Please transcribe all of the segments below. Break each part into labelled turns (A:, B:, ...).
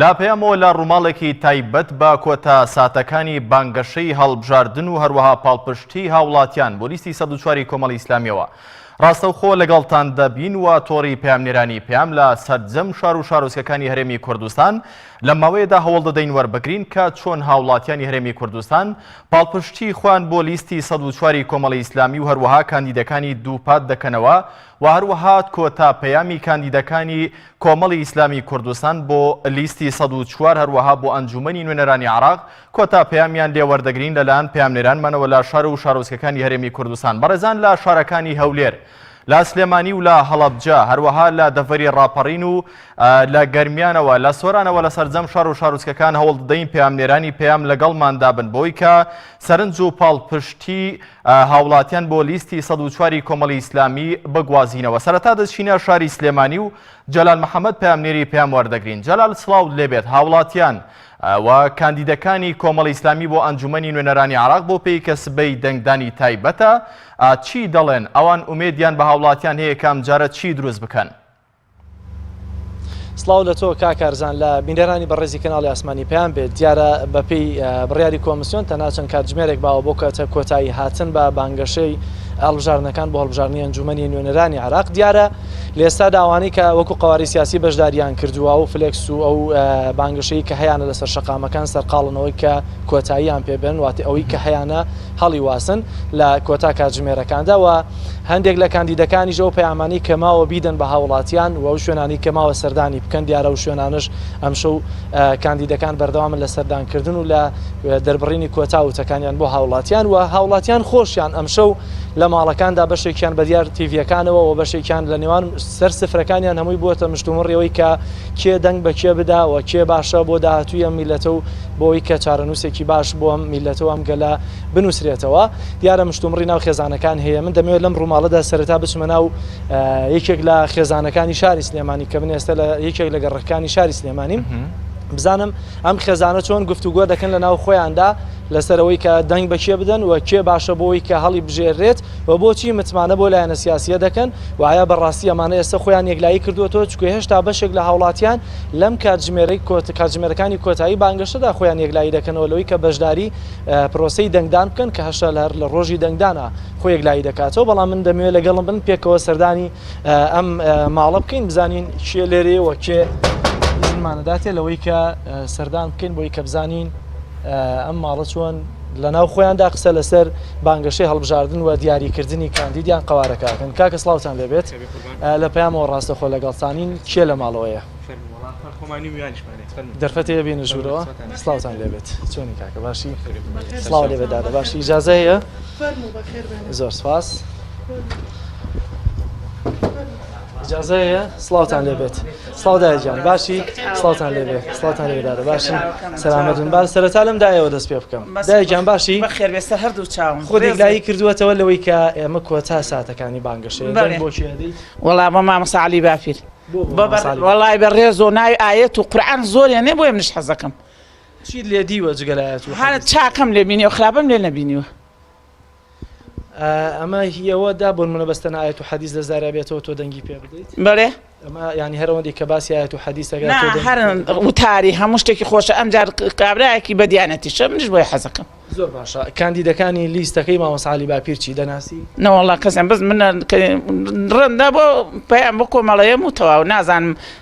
A: لە پەیامەوە لە ڕووماڵێکی تایبەت بە کۆتا ساتەکانی بانگەشەی هەڵبژاردن و هەروەها پاڵپشتی هاوڵاتیان بۆ لیستی سەد و چواری کۆمەڵی ئیسلامیەوە ڕاستەوخۆ لەگەڵتان دەبین و تۆڕی پامنێرانی پام لە سەرجەم شار و شارۆچکەکانی هەرێمی کوردستان لە ماوەیەدا هەوڵ دەدەین وەربگرین کە چۆن هاوڵاتیانی هەرێمی کوردستان پاڵپشتی خوان بۆ لیستی سەد و چواری کۆمەڵی ئیسلامی و هەروەها کاندیدەکانی دووپات دەکەنەوە و هەروەها کۆتا پەیامی کاندیدەکانی کۆمەڵی ئیسلامی کوردستان بۆ لیستی سەد و چوار هەروەها بۆ ئەنجوومەنی نوێنەرانی عێراق کۆتا پەیامیان لێ وەردەگرین لەلایەن پەیامنێرانمانەوە لە شار و شارۆچکەکانی هەرێمی کوردستان بەڕێزان لە شارەکانی هەولێر لە سلێمانی و لە هەڵەبجە هەروەها لە دەڤەری ڕاپەڕین و لە گەرمیانەوە لە سۆرانەوە لە سەرجەم شار و شارۆچکەکان هەوڵ دەدەین پەیامنێرانی پەیام لەگەڵماندا بن بۆی کە سەرنج و پاڵپشتی هاوڵاتیان بۆ لیستی سەد و چواری کۆمەڵی ئیسلامی بگوازینەوە سەرەتا دەچینە شاری سلێمانی و جەلال محەممەد پامنێری پێم وەردەگرین جەلال سلااو لێبێت هاوڵاتیان و کاندیدەکانی کۆمەڵی ئیسلامی بۆ ئەنجومی نوێنەرانی عراق بۆ پێی کە سبەی دەنگدانی تایبەتە چی دەڵێن ئەوان ئومێدیان بە هاوڵاتیان هەیە کامجارە چی دروست بکەن؟
B: سڵاو لە تۆ کاک کارزان لە بینەرانی بەڕێزی کەناڵی ئاسمانی پێیان بێت دیارە بەپی بڕیاری کۆمسیۆن تەنها چەند کاتژمێرێک باوە بۆ کەتە کۆتایی هاتن بە بانگەشەی هەڵبژاردنەکان بۆ هەڵبژاردننی ئەنجومەنی نوێنەرانی عراق دیارە لێستا داوانی کە وەکو قواری سیاسی بەشداریان کردووە و فلکس و ئەو بانگەشەی کە هەیەە لەسەر شقامەکان سەرقاڵنەوەی کە کۆتاییان پێبن واتی ئەوەی کە هەیەە هەڵیواسن لە کۆتا کاتژمێرەکاندا و هەندێک لە کاندیدەکانیش ئەو پەیامانەی کە ماوە بیدەن بە هاوڵاتیان و شوێنانی کە ماوە سەردانی بکەن دیارە و شوێنانش ئەمشەو کاندیدەکان بەردەوامن لە سەردانکردن و لە دەربڕینی کۆتا وتەکانیان بۆ هاوڵاتیان و هاوڵاتیان خۆشیان ئەمشەو لە ماڵەکاندا بەشێکیان بەدیار تیڤەکانەوە و بەشێکیان لە نێوان سەر سفرەکانیان هەمووی بووە مشتومڕیەوەی کە کێ دەنگ بە کێ بداوە کێ باشە بۆ داهاتوویە میلەتە و بۆوەی کە چارەنووسێکی باش بۆ ئەم میللەتە و ئەم گەلە بنووسرێتەوە. دیارە مشتومڕی ناو خێزانەکان هەیە. من دەمەوێت لەم ڕووماڵەدا سەرەتا بچمە ناو یەکێک لە خێزانەکانی شاری سلێمانی کە من ئێستا لە یەکێک لە گەڕەکەکانی شاری سلێمانیم، بزانم ئەم خێزانە چۆن گفتوگۆ دەکەن لە ناو خۆیاندا لەسەر ئەوەی کە دەنگ بە کێ بدەن و کێ باشە بۆوەی کە هەڵیبژێررێت و بۆچی متمانە بەو لایەنە سیاسییە دەکەن و ئایا بەڕاستی ئەمانە ئێستا خۆیان یەکلایی کردووەتەوە، چونکە هێشتا بەشێک لە هاوڵاتیان لەم کاتژمێرەی کۆت کاتژمێرەکانی کۆتایی بانگەشەدا خۆیان یەکلایی دەکەنەوە لەوەی کە بەشداری پرۆسەی دەنگدان بکەن کە هەشتا لە هەر لە ڕۆژی دەنگدانا خۆ یەکلایی دەکاتەوە بەڵام من دەمەوێت لەگەڵم بن پێکەوە سەردانی ئەم ماڵە بکەین بزانین کێ لێرەیەوە کێ زمانەداتێ لەوەی کە سەردان بکەین بۆی کە بزانین ئەم ماڵە چۆن لە ناو خۆیاندا قسە لەسەر بانگەشەی هەڵبژاردن و دیاریکردنی کاندیدیان قوارەکەکەن کاکە سلااوان لەبێت لە پەیامەوە ڕاستەخۆ لەگەڵتانین کێ لە ماڵەوەیە دەرفەتێ هەیە بێینە ژوورەوە سڵاوتان لێبێت چۆنی کاکە باشی سڵاو لێ بێت دادە باشی ئیجازە هەیە زۆر سپاس ئیجازە هەیە سڵاوتان لێبێت سڵاو دایە گیان باشی سڵاوتان لێ بێ سڵاوتان لێ دادە باشی سەلامەت بن با سەرەتا لەم دایەوە دەست پێ بکەم دایە گیان باشی بەخێر بێ سەر هەردوو
C: چاوم خۆ دێکلایی کردووەتەوە
B: لەوەی کە ئێمە کۆتا ساتەکانی بانگەشەیە دەنگ بەڵێ. بۆ کێ دەیت وەڵا بۆ مامۆستا
C: عەلی باپیر بۆ بۆ بە بەڕ- مامۆستا عەلی؟ وەڵای بە ڕێز و ناوی ئایەت و قورعان زۆر یانێ بۆیە منیش حەزەکەم چیت لێ
B: دیوە جگە لە ئایەت و هەر حەدیث؟ چاکەم لێ
C: بینیوە خراپەم لێ نەبینیوە
B: ئەمە هیەوە دا بۆن منە بەستەن ئاەت و حەدیز لە زارابێتەوە تۆ دەنگی پێ بدەیت بەێ ئەمە
C: ینی هەرەوەندی
B: کە باسی ئاەت و حەدیسەکە هەر
C: وتاری هەموو شتێکی خۆشە ئەمجار کابراایەکی بە دیانەتی شە منش بۆی حەزەکەم زۆر باشە
B: کاندیدەکانی لیستەکەی مامەساالی باپیر چی دەناسی نەوەڵا کەسم بەس
C: من ڕێندا بۆ پێیان بۆ کۆمەڵەیەم و تەواو نازانم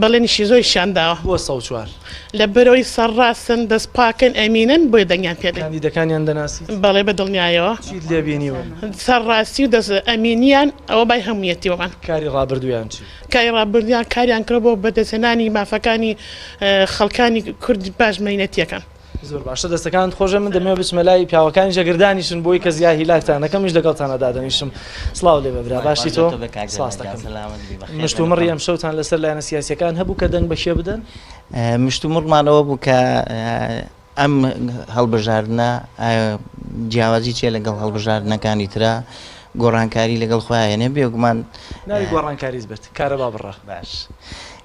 D: بەڵێنیشی زۆری شان داوە. بۆ سەد و چوار.
B: لە بەرەوەی
D: سەرڕاستن، دەست پاکن، ئەمینن، بۆیە دەنگیان پێ دەین. کاندیدەکانیان دەناسیت؟
B: بەڵێ بە دڵنیایەوە.
D: چیت لێ بینیون؟
B: سەرڕاستی و
D: دەست ئەمینیان، ئەوە بای هەموویەتی بۆمان. کاری ڕابردوویان
B: چی؟ کاری ڕابردوویان
D: کاریان کردووە بۆ بەدەستهێنانی مافەکانی خەڵکانی کورد پاش مەینەتیەکان. زۆر باشە
B: دەستەکانت خۆشە من دەمەوێت بچمە لای پیاوەکانی جەگردانیشن بۆی کە زیا هیلاکتان نەکەم میش لەگەڵتانە دادەنیشم سلااو لێ بەبرا باشی تۆ مشتومڕی ئەم شەوتان لەسەر لایەنە سیاسەکان هەبوو کە
E: دەنگ
B: بەشێ بدەن مشتومڕمانەوە بوو کە ئەم
E: هەڵبژاردنە جیاوازی چێ لەگەڵ هەڵبژاردنەکانی تررا گۆڕانکاری لەگەڵ خۆیانێ بێگومان گۆڕانکاریت
B: بێت کارەبا بڕە باش.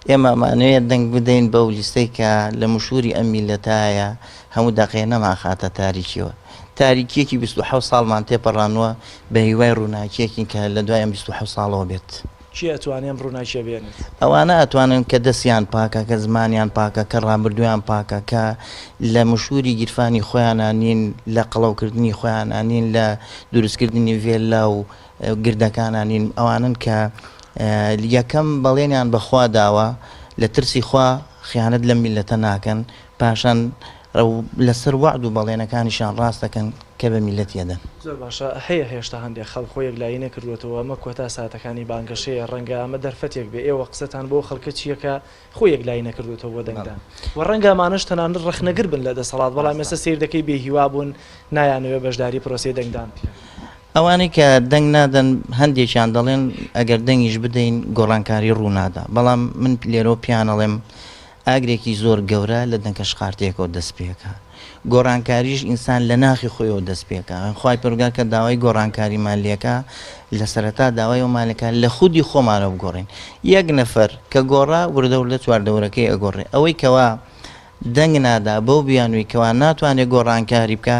E: ئێمە ئەمانەوێ دەنگ بدەین بەو لیستەی کە لە مشووری ئەم میللەتایە هەموو دەقێ نەمانخاتە تاریکیەوە. تاریکیەکی بیست و حەوت ساڵمان تێپەڕاندوە، بە هیوای ڕووناکیەکین کە لە دوای ئەم بیست و حەوت ساڵەوە بێت. کێ ئەتوانێ ئەم
B: ڕووناکیە بێنێت؟ ئەوانە ئەتوانن
E: کە دەستیان پاکە، کە زمانیان پاکە، کە ڕابردوویان پاکە، کە لە مشووری گیرفانی خۆیانا نین، لە قەڵەوکردنی خۆیانا نین، لە دروستکردنی ڤێللا و گردەکانا نین ئەوانەن کە یەکەم بەڵێنیان بە خوا داوە لە ترسی خوا خیانەت لەم میللەتە ناکەن پاشان لەسەر وەعد و بەڵێنەکانیشان ڕاست دەکەن کە بە میللەتی ئەدەن. زۆر باشە هەیە
B: هێشتا هەندێک خەڵک خۆی یەکلایی نەکردووەتەوە ئەمە کۆتا ساتەکانی بانگەشەیە ڕەنگە ئەمە دەرفەتێک بێ ئێوە قسەتان بۆ ئەو خەڵکە چییە کە خۆی یەکلایی نەکردۆتەوە بۆ دەنگدان و ڕەنگە ئەمانەش تەنانەت ڕەخنەگر بن لە دەسەڵات، بەڵام ئێستا سەیر دەکەی بێ هیوا بوون، نایانەوێت بەشداری پرۆسەی دەنگدان بکەن. ئەوانەی
E: کە دەنگ نادەن هەندێکیان دەڵێن ئەگەر دەنگیش بدەین گۆڕانکاری ڕوو نادا، بەڵام من لێرەوە پێیان ئەڵێم ئاگرێکی زۆر گەورە لە دەنکەشقارتێکەوە دەست پێکا، گۆڕانکاریش ئینسان لە ناخی خۆیەوە دەست پێکا. خوای پەروەردگار کە داوای گۆڕانکاریمان لێکا، لە سەرەتا داوای ئەومان لێکا لە خودی خۆمانەوە بگۆڕین. یەک نەفەر کە گۆڕا، وردە وردە چواردەورەکەی ئەگۆڕێ. ئەوەی کەوا دەنگ نادا بەو بیانووی کەوا ناتوانێ گۆڕانکاری بکا،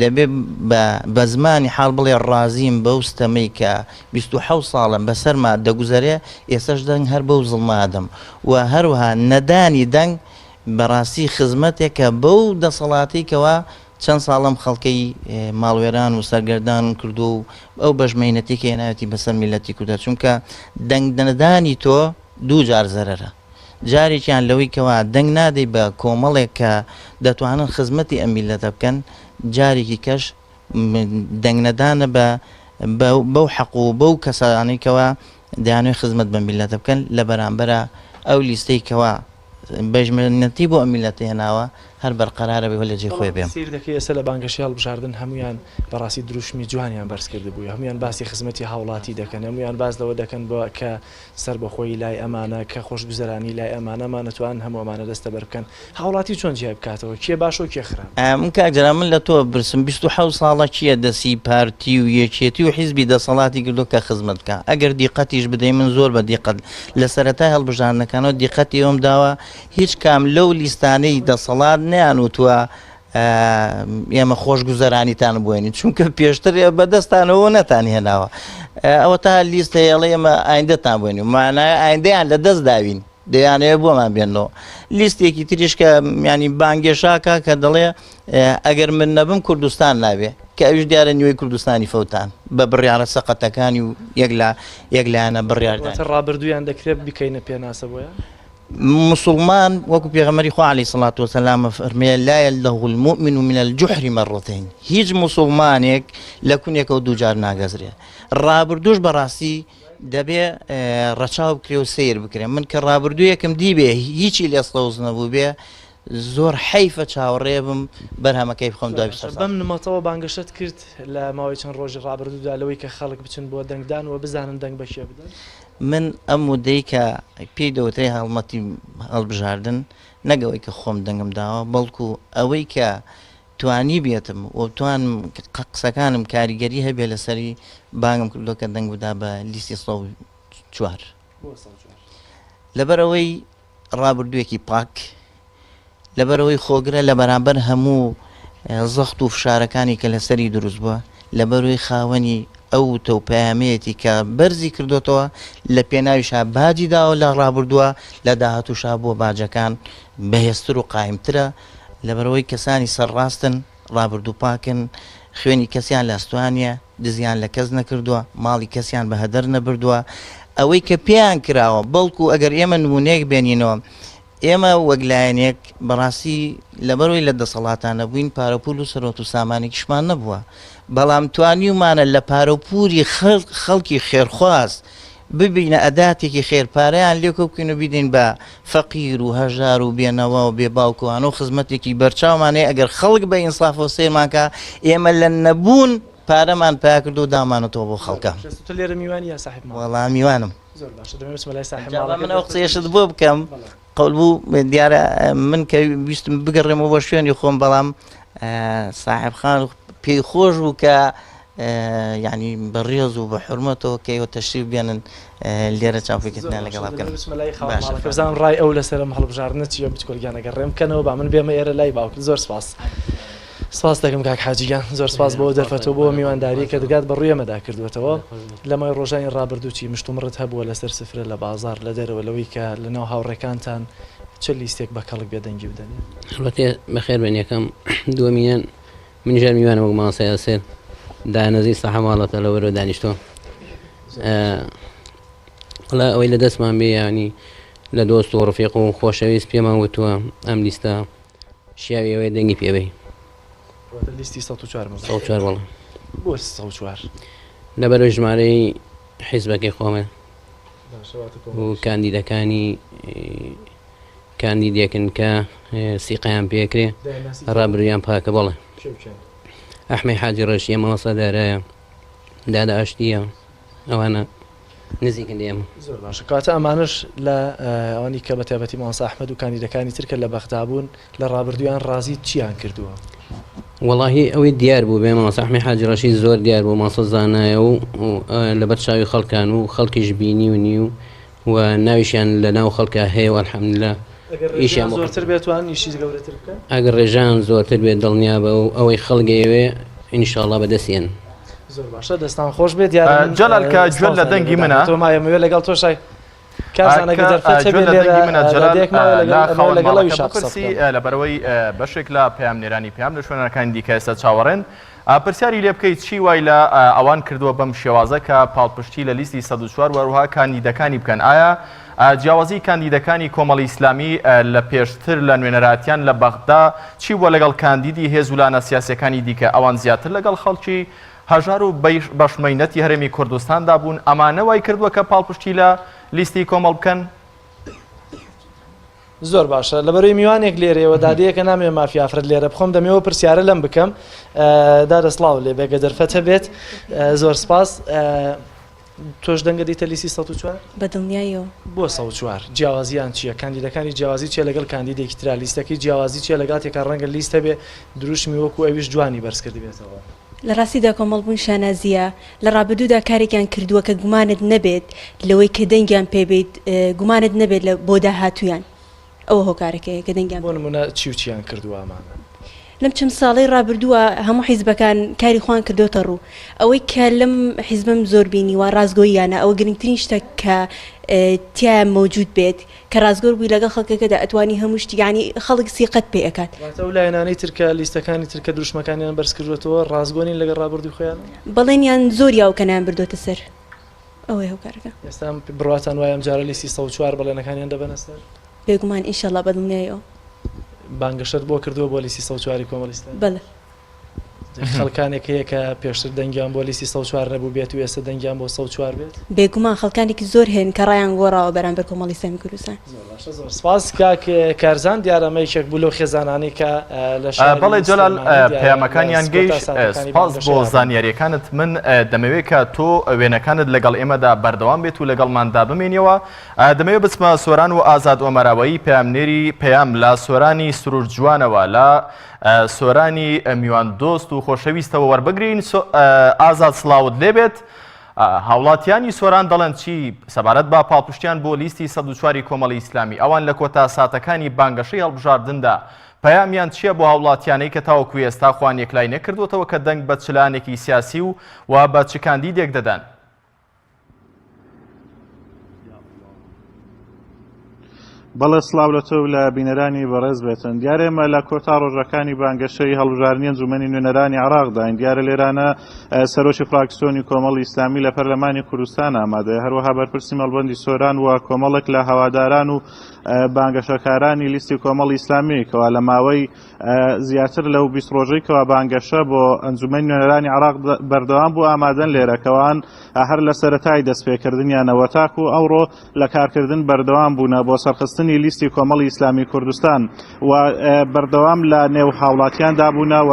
E: دەبێ بە بە زمانی حاڵ بڵێ ڕازیم بەو ستەمەی کە بیست و حەوت ساڵەم بە سەرما دەگوزەرێ، ئێسەش دەنگ هەر بەو زڵمە ئەدەم و هەروەها نەدانی دەنگ، بەڕاستی خزمەتێکە بەو دەسەڵاتەی کەوا چەند ساڵ ئەم خەڵکەی ماڵوێران و سەرگەردان کردووە و ئەو بەش مەینەتی کە هێناوێتی بەسەر میللەتی کوردە چونکە دەنگ نەدانی تۆ دوو جار زەرەرە جارێکیان لەوەی کەوا دەنگ نادەی بە کۆمەڵێک کە دەتوانن خزمەتی ئەم میللەتە بکەن جارێکی کەش دەنگ نەدانە بە بەو حەق و بەو کەسانەی کەوا دەیانەوێت خزمەت بەم میللەتە بکەن لە بەرامبەرا ئەو لیستەی کەوا بەش منەتی بۆ ئەم میللەتە هێناوە هەر بەرقەرارە بێ لە جێ خۆی بێ. بەڵام سەیر دەکەی ئێستا لە بانگەشەی
B: هەڵبژاردن هەموویان بەڕاستی دروشمی جوانیان بەرز کردبووی هەموویان باسی خزمەتی هاوڵاتی دەکەن هەموویان باس لەوە دەکەن بە کە سەربەخۆیی لای ئەمانە کە خۆشگوزەرانی لای ئەمانە ئەمانە توانن هەموو ئەمانە دەستەبەر بکەن هاوڵاتی چۆن جیای بکاتەوە کێ باشەو کێ خراپ؟ ئەم کاک جەلال من لە تۆ
E: بپرسم بیست و حەوت ساڵە کیە دەسی پارتی و یەکێتی و حیزبی دەسەڵاتی کردوە کە خزمەت بکا ئەگەر دیقەتیش بدەی من زۆر بە دیقەت لە سەرەتای هەڵبژاردنەکانەوە دیقەتی ئەوەم داوە هیچ کام لەو لیستانەی دەسەڵات نەیان وتوە ئێمە خۆش گوزەرانیتان بووێنین چونکە پێشتر بە دەستانەوە نەتان هێناوە ئەوە تا لیست هەیەڵێ ئێمە ئایندەتان بووێنین مانای ئایندەیان لە دەست داوین دەیانەوێت بۆمان بێنەوە لیستێکی تریش کە میانی بانگێشاکە کە دەڵێ ئەگەر من نەبم کوردستان ناوێ کە ئەوش دیارە نیوەی کوردستانی فەوتان بە بڕیاڕە سەقەتەکانی و یەک لە یەک لایەنە بڕیاردان ڕابردوویان دەکرێت
B: بکەینە پێناسە بۆیان مسلمان
E: وەکو پێغەمەری خوالی سڵات وسەلامە فەرمێ لایە لە غولمؤمن و منە جوحری مەڕۆتین هیچ مسلمانێک لە کونێکەوە دووجار ناگەزرێ ڕابردوش بەڕاستی دەبێ ڕەچاو بکرێ و سیر بکرێن من کە ڕابردوویەکم دیبێ هیچی لێ سەوز نەبوو بێ زۆر حیفە چاوەڕێ بم بەرهەمەکەی بخۆم دوای بەم نمەتەوە
B: بانگەشت کرد لە ماوەی چەند ڕۆژی ڕابردوودا لەوەی کە خەڵک بچن بۆ دەنگدان و بزانن دەنگ بەشێ بدەن من ئەم
E: ودەی کە پێی دەوترێ هەڵمەتی هەڵبژاردن نەگەوەی کە خۆم دەنگم داوە بەڵکو ئەوەی کە توانیبێتم و بتوانم قسەکانم کاریگەری هەبێت لەسەری بانگم کردوە کە دەنگ بدا بە لیستی سەد و چوار لەبەرئەوەی ڕابردوێکی پاک لەبەرەوەی خۆگرە لە بەرامبەر هەموو زەخت و فشارەکانی کە لەسەری دروست بووە لەبەروی خاوەنی ئەو تە و پامەیەتی کە بەرزی کردوتەوە لە پێناویشا باجی داوە لە ڕابردووە لە داهاتوشا بۆ باجەکان بەهێزتر و قایمترە لەبەرئەوەی کەسانی سەرڕاستن، ڕابردووپاکن، خوێنی کەسیان لاستوانیە، دزیان لە کەس نەکردووە، ماڵی کەسیان بە هەدەر نەبردووە، ئەوەی کە پێیان کراوە، بەڵکو ئەگەر ئێمە نموونەیەک بێنینەوە، ئێمە وەک لایەنێک بەڕاستی لەبەرئەوەی لە دەسەڵاتا نەبووین، پارەوپوول و سەرۆت و سامانێکیشمان نەبووە، بەڵام توانیومانە لە پارەوپوولی خەڵکی خێرخواز، ببینە ئەداتێکی خێر پارەیان لێ کۆبکەین و بیدەین بە فەقیر و هەژار و بێ نەوا و بێ باوک و هانۆ خزمەتێکی بەرچاومان هەیە ئەگەر خەڵک بە ئینسافەوە سەیرمان کا ئێمە لە نەبوون پارەمان پیا کردووە و دامانەتەوە بۆ خەڵکە تۆ لێرە میوانی یا
B: ساحێب ماڵ؟ وەڵا میوانم زۆر
E: باشە دەمێ بچمە
B: لای ساحێب ماڵەکەت من ئەو قسەیەشت
E: بۆ
B: بکەم
E: قەولبوو دیارە من کە ویستم بگەڕێمەوە بۆ شوێنی خۆم بەڵام ساحب خان پێی خۆش بوو کە یعنی بە ڕێز و بە حرمەتەوە کەەوە تەشریف بێنن لێرە چاپێکردنا لەگەڵ بکەنزان
B: ڕای ئەو لەسەرم هەڵبژاردنە چیە بچکۆلگیانەگە ڕێم بکەنەوە با من بێمە ئێرە لای باوکن زۆر سپاس. سپاست دەکەم کاک حاجی گیان. زۆر سپاس بۆ دەرفەتو بۆ میوانداریەک کە دەگات بە ڕویێمەدا کردوەتەوە. لە مای ڕۆژانی ڕابردو چی مشتومڕت هەبوە لە سەر سفرە لە بازاڕ لە دەرەوە لەوەی کە لە ناو هاوڕێکانتان چ لیستێک بە کەڵک بێدەنگی بدەنێ؟ هەڵبەتە بەخێر
F: بێن یەکەم. دوەمینەن منیش هەر میوانم وەک مامۆستا یاسر دانەزی سەحە ماڵەتە لە وەرەوە دانیشتوە. وەڵا ئەوەی لە دەستمان بێ یانی لە دۆست و ڕفیق و خۆشەویست پێمان وتوە ئەم لیستە شیاوی ئەوەیە دەنگی پێ بەی. واتە لیستی
B: سەد و چوار بم.
F: سەد
B: و چوار بەڵێ. بۆ سەد و چوار؟ لەبەرەوەی
F: ژمارەی حیزبەکەی خۆمە و کاندیدەکانی کاندیدێکن کە سیقیان پێکرێ ڕابرویان پاکە بەڵێ ئەحمەی حاجی ڕێشیە مەوەسە دارایە دادە ئاشتییە ئەوانە نزیکن لە ئێمە. زۆر باشە کەواتە
B: ئەمانەش لە ئەوانی کە بە تایبەتی مامۆستا ئەحمەد و کاندیدەکانی تر کە لە بەغدا بوون لە ڕابردوویان ڕازیت چییان کردووە؟ وەڵاهی
F: ئەوەی دیار بوو بێ مامۆستا ئەحمەد حاجی ڕەشید زۆر دیار بوو مامۆستا زانایە و لەبەر چاوی خەڵکان و خەڵکیش بینیونی و و ناویشیان لە ناو خەڵکا هەیە و الحمدللە ئیشیان بۆ
B: خەڵک دەکەن. ئەگەر ڕێژەیان
F: زۆرتر بێت دڵنیابە و ئەوەی خەڵک ئەیەوێ ئینشاڵڵا بەدەستیەن.
B: جەلال کە گوێت
A: لە دەنگی منە؟
B: لەبەرئەوەی
A: بەشێک لە پەیامنێرانی پەیام لە شوێنەکانی دیکە ئێستا چاوەڕێن. پرسیاری لێ بکەیت چی وای لە ئەوان کردووە بەم شێوازە کە پاڵپشتی لە لیستی سەد و چوار و هەروەها کاندیدەکانی بکەن؟ ئایا جیاوازی کاندیدەکانی کۆمەڵی ئیسلامی لە پێشتر لە نوێنەرایەتیان لە بەغدا چی بووە لەگەڵ کاندیدی هێز و لانە سیاسیەکانی دیکە؟ ئەوان زیاتر لەگەڵ خەڵکی هەژار و بەش مەینەتی هەرێمی کوردستاندا بوون ئەمانە وای کردووە کە پاڵپشتی لە لیستی کۆمەڵ بکەن؟
B: زۆر باشە لەبەروی میوانێک لێرەوە دادەیەکە نامێ مافی ئافرەت لێرە بخۆم دەمەوە پرسیارە لەم بکەم دادە سلااو لێ بێگە دەرفەت هەبێت زۆر سپاس تۆش دەنگە دیتە لیسی 1940 بەدڵنیایەوە
G: بۆ 1940
B: جیاوازیان چییە کاندیدەکانی جیاوازی چیە لەگەڵ کاندیدێکی ترا لیستەکەی جیاوازی چیە لەگاتێکە ڕەنگە لیستە بێ دروشمی وەکو ئەویش جوانی بەرزکردبێتەوە لە ڕاستیدا
G: کۆمەڵبوون شانازییە، لە ڕابردوودا کارێکیان کردووە کە گومانت نەبێت لەوەی کە دەنگیان پێ بیت، گومانت نەبێت لە بۆ داهاتوویان ئەوە هۆکارەکەیە کە دەنگیان. بۆ نموونە چی و چییان
B: کردووە ئەمانە؟ لەم چەند
G: ساڵەی ڕابردووە هەموو حیزبەکان کاری خۆیان کردۆتە ڕوو، ئەوەی کە لەم حیزبەم زۆر بینیوە ڕاستگۆییانە، ئەوە گرنگترین شتە کە تیایا مەوجوود بێت، کە ڕاستگۆ بووی لەگەڵ خەڵکەکەدا ئەتوانی هەموو شتی یەعنی خەڵک سیقەت پێ ئەکات. واتە ئەو لایەنانەی تر کە
B: لیستەکانی تر کە دروشمەکانیان بەرز کردووەتەوە ڕاستگۆ نین لەگەڵ ڕابوردووی خۆیان؟ بەڵێنیان زۆر
G: یاو کە نایان بردۆتە سەر ئەوەی هۆکارەکە. ئێستا بڕواتان
B: وایە ئەم جارە لیستی سەد و چوار بەڵێنەکانیان دەبەنە سەر؟ بێگومان ئینشەڵا
G: بە دڵنیایەوە. بانگەشەت
B: بۆ کردووە بۆ لیستی سەد و چواری کۆمەڵی ئیسلامی؟ بەڵێ. خەڵکانێک هەیە کە پێشتر دەنگیان بۆ لیستی سەد و چوار نەبووبێت و ئێستا دەنگیان بۆ سەد و چوار بێت؟ بێگومان خەڵکانێکی
G: زۆر هەیەن کە ڕایان گۆڕاوە بەرامبەر کۆمەڵی سەمی کوردستان. زۆر باشە زۆر سپاس
B: کاک کارزان دیارە ئەمە یەکێک بوو لەو خێزانانەی کە لە شاری سلێمانی بەڵێ جەلال
A: پەیامەکانیان گەیشت سپاس بۆ زانیاریەکانت من دەمەوێت کە تۆ وێنەکانت لەگەڵ ئێمەدا بەردەوام بێت و لەگەڵماندا بمێنیەوە دەمەوێت بچمە سۆران و ئازاد ئۆمەراوەیی پەیامنێری پەیام لە سۆرانی سروشت جوانەوە لە سۆرانی میوان دۆست و خۆشەویستەوە وەربگرین ئازاد سڵاوت لێبێت هاوڵاتیانی سۆران دەڵێن چی سەبارەت بە پاڵپشتیان بۆ لیستی سە چواری کۆمەڵی ئیسلامی ئەوان لە کۆتا ساتەکانی بانگەشەی هەڵبژاردندا پەیامیان چییە بۆ هاوڵاتیانەی کە تاوەکو ئێستا خوان یەکلای نەکردوتەوە کە دەنگ بە چلانێکی سیاسی و و بە چکاندی دێک دەدەن
H: بەڵێ سڵاو لە تۆ لە بینەرانی بەڕێز بێتن دیارێمە لە کۆتا ڕۆژەکانی بانگەشەی هەڵبژارنیە جومەنی نوێنەرانی عراقداین دیارە لێرانە سەرۆکی فراکسیۆنی کۆمەڵی ئیسلامی لە پەرلەمانی کوردستان ئامادەیە هەروەها بەرپرسی مەڵبندی سۆران و کۆمەڵێک لە هەواداران و بانگەشەکارانی لیستی کۆمەڵی ئیسلامی کەوا لە ماوەی زیاتر لەو بیست ڕۆژەی کەوا بانگەشە بۆ ئەنجومەنی نوێنەرانی عێراق بەردەوام بوو ئامادەن لێرەکەوان هەر لە سەرەتای دەستپێکردنیانەوە تاکو ئەوڕۆ لە کارکردن بەردەوام بوونە بۆ سەرخستنی لیستی کۆمەڵی ئیسلامی کوردستان و بەردەوام لە نێو هاوڵاتیان دابوونە و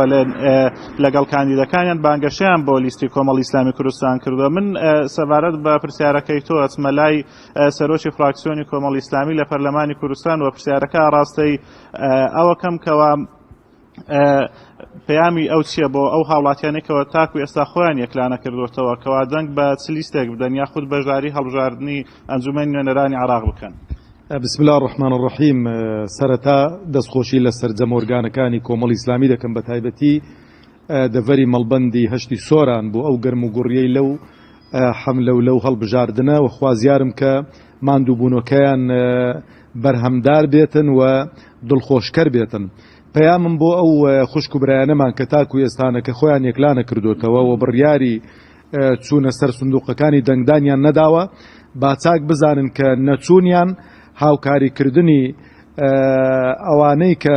H: لەگەڵ کاندیدەکانیان بانگەشیان بۆ لیستی کۆمەڵی ئیسلامی کوردستان کردووە من سەبارەت بە پرسیارەکەی تۆ ئەچمە لای سەرۆکی فراکسیۆنی کۆمەڵی ئیسلامی لە پەرلەمانی کوردستان و پرسیارەکە ڕاستەی ئەوەکەم کەوا پەیامی ئەو چییە بۆ ئەو هاوڵاتیانێکەوە تاکو ئێستا خۆیان یەکلانە کردوتەوە کەوا دەنگ بە چ لیستێک بدەن یاخود بەشداری هەڵبژاردنی ئەنجومەی نوێنەرانی عراق بکەن. بسم اللە
I: الرحمن الرحیم سەرەتا دەستخۆشی لە سەرجەم ئۆرگانەکانی کۆمەڵی ئیسلامی دەکەم بەتایبەتی دەڤەری مەڵبەندی هەشتی سۆران بۆ ئەو گەرموگوڕیەی لەو حەملەولەو هەڵبژاردنە و خوازیارم کە ماندووبوونەکەیان بەرهەمدار بێتن و دڵخۆشکەر بێتن. پەیامم بۆ ئەو خوشک و برایانەمان کە تاکو ئێستانەکە خۆیان یەکلانەکردۆتەوە و بڕیاری چوونە سەر سندوقەکانی دەنگدانیان نەداوە با چاک بزانن کە نەچوونیان هاوکاریکردنی ئەوانەی کە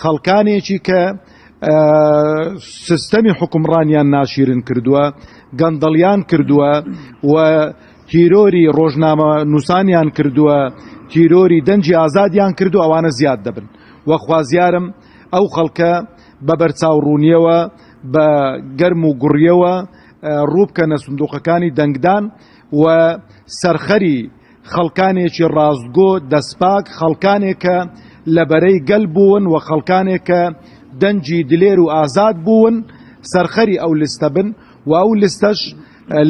I: خەڵکانێکی کە سیستەمی حوکمڕانیان ناشیرن کردووە گەندەڵیان کردووە و تیرۆری ڕۆژنامە نووسانیان کردووە تیرۆری دەنجی ئازادیان کردو ئەوانە زیاد دەبن وەخوازیارم ئەو خەڵکە بە بەرچاوڕوونیەوە بە گەرم و گوڕیەوە ڕووبکەنە سندوقەکانی دەنگدان و سەرخەری خەڵکانێکی ڕاستگۆ، دەستپاک، خەڵکانێک کە لە بەرەی گەل بوون و خەڵکانێک کە دەنگی دلێر و ئازاد بوون سەرخەری ئەو لستە بن و ئەو لستەش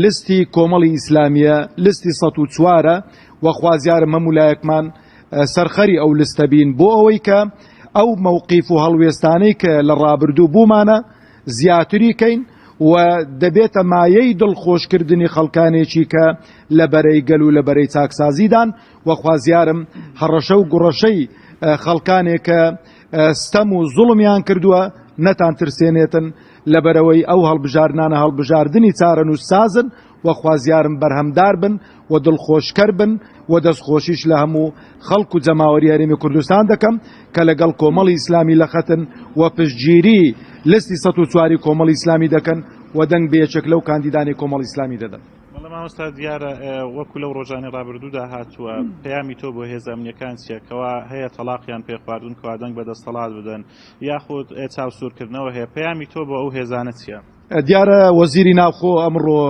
I: لستی کۆمەڵی ئیسلامیە، لستی سەد و چوارە و خوازیارم هەموو لایەکمان سەرخەری ئەو لستە بین بۆ ئەوەی کە ئەو مەوقیف و هەڵوێستانەی کە لە ڕابردوو بوومانە، زیاتری کەین و دەبێتە مایەی دڵخۆش کردنی خەڵکانێکی کە لە بەرەی گەل و لە بەرەی چاکسازیدان و خوازیارم هەڕەشە و گوڕەشەی خەڵکانێک کە ستەم و زوڵمیان کردووە نەتان ترسێنێتن لەبەرئەوەی ئەو هەڵبژاردنانە هەڵبژاردنی چارەنووس سازن و خوازیارم بەرهەمدار بن و دڵخۆشکەر بن و دەستخۆشیش لە هەموو خەڵک و جەماوەری هەرێمی کوردستان دەکەم کە لەگەڵ کۆمەڵی ئیسلامی لە خەتن و پشتگیری لستی سەد و چواری کۆمەڵی ئیسلامی دەکەن و دەنگ بە یەکێک لەو کاندیدانی کۆمەڵی ئیسلامی دەدەن. بەڵێ مامۆستا دیارە
H: وەکو لەو ڕۆژانی ڕابردوودا هاتووە پەیامی تۆ بۆ هێزە ئەمنیەکان چیە کەوا هەیە تەڵاقیان پێ خواردون کەوا دەنگ بە دەستەڵات بدەن یاخود چاوسورکردنەوە هەیە پەیامی تۆ بۆ ئەو هێزانە چیە؟ دیارە وەزیری
I: ناوخۆ ئەمڕۆ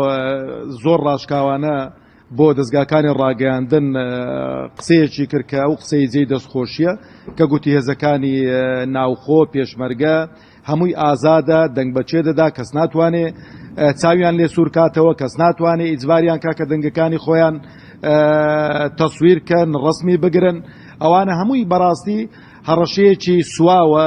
I: زۆر ڕاشکاوانە بۆ دەزگاکانی ڕاگەیاندن قسەیەکی کرد کە ئەو قسەی جێی دەستخۆشیە کە گوتی هێزەکانی ناوخۆ پێشمەرگە هەمووی ئازادە دەنگ بەچێ دەدا کەس ناتوانێ چاویان لێ سوور کاتەوە کەس ناتوانێ ئیجباریان کاکە دەنگەکانی خۆیان تەسویر کەن ڕسمی بگرن ئەوانە هەمووی بەڕاستی هەڕەشەیەکی سواوە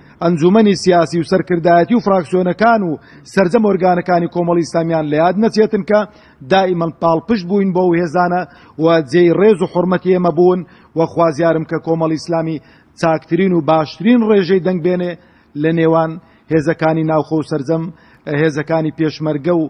I: ئەنجوومەنی سیاسی و سەرکردایەتی و فراکسیۆنەکان و سەرجەم ئۆرگانەکانی کۆمەڵی ئیسلامیان لە یاد نەچێتن کە دائیمەن پاڵپشت بووین بۆ ئەو هێزانە و جێی ڕێز و حورمەتی ئێمە بوون و خوازیارم کە کۆمەڵی ئیسلامی چاکترین و باشترین ڕێژەی دەنگ بێنێ لە نێوان هێزەکانی ناوخۆ و سەرجەم هێزەکانی پێشمەرگە و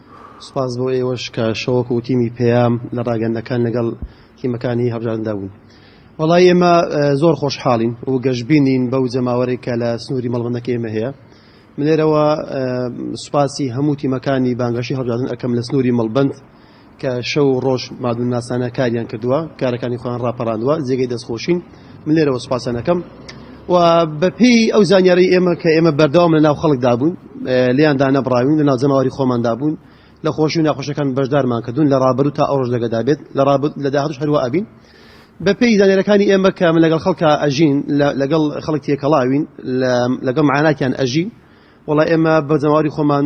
J: سوپاس بۆ ئێوەش کە شەوەک و تیمی پەیام لە ڕاگەندەکان لەگەڵ تیمەکانی هەڵبژاردندا بوون. وەڵا ئێمە زۆر خۆشحاڵین و گەشبینین بەو جەماوەرەی کە لە سنووری مەڵبەندەکەی ئێمە هەیە. من لێرەوە سوپاسی هەموو تیمەکانی بانگەشەی هەڵبژاردن ئەکەم لە سنووری مەڵبەند کە شەو و ڕۆژ مادونناسانە کاریان کردووە، کارەکانی خۆیان ڕاپەڕاندووە، جێگەی دەستخۆشین. من لێرەوە سوپاسیان ئەکەم و بەپێی ئەو زانیاری ئێمە کە ئێمە بەردەوام لە ناو خەڵکدا بوون لیان دانەبراوین لە ناو جەماوەری خۆماندا بوون لە خۆشی و ناخۆشەکان بەشدارمان کردوون لە ڕابرو تا ئەوڕۆژ لەگەدا بێت لە ڕابرد لە داهاتوش هەروە ئەبین بە پێی زانێرەکانی ئێمە کە من لەگەڵ خەڵکە ئەژین لەگەڵ خەڵک تێکەڵاوین لەگەڵ معاناتیان ئەژین وڵا ئێمە بە جەماوەری خۆمان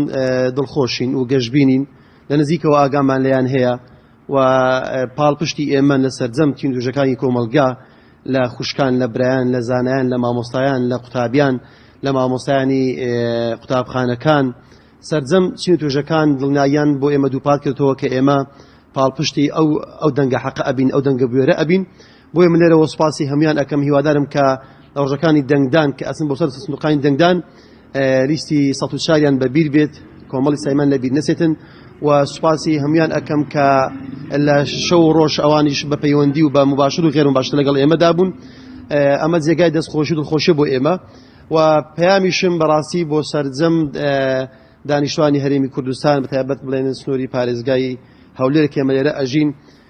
J: دڵخۆشین و گەشببینین لە نزیکەوە ئاگامان لەیان هەیە و پاڵپشتی ئێمە لە سەرجەم چیندوژەکانی کۆمەڵگا، لە خوشکان، لە برایان، لە زانایان، لە مامۆستایان، لە قوتابیان، لە مامۆستایانی قوتابخانەکان، سەرجەم چین و توێژەکان دڵنیاییان بۆ ئێمە دووپات کردەوە کە ئێمە پاڵپشتی ئەو ئەو دەنگە حەقە ئەبین، ئەو دەنگە بوێرە ئەبین بۆیە من لێرەوە سوپاسی هەموان ئەکەم هیوادارم کە لە ڕۆژەکانی دەنگدان کە ئەچن بۆ سەر سندوقانی دەنگدان لیستی سەد و چاریان بە بیر بێت کۆمەڵی سایمان لە بیر نەچێتن و سوپاسی هەموان ئەکەم کە لە شەو و ڕۆژ ئەوانیش بە پەیوەندی و بە مباشر و غێرم باشتر لەگەڵ ئێمەدا بوون ئەمە جێگای دەستخۆشی و دڵخۆشی بۆ ئێمە و پەیامیشم بەڕاستی بۆ سەرجەم دانیشتوانی هەرێمی کوردستان بەتایبەت بڵێن سنووری پارێزگای هەولێر کێمەێرە ئەژین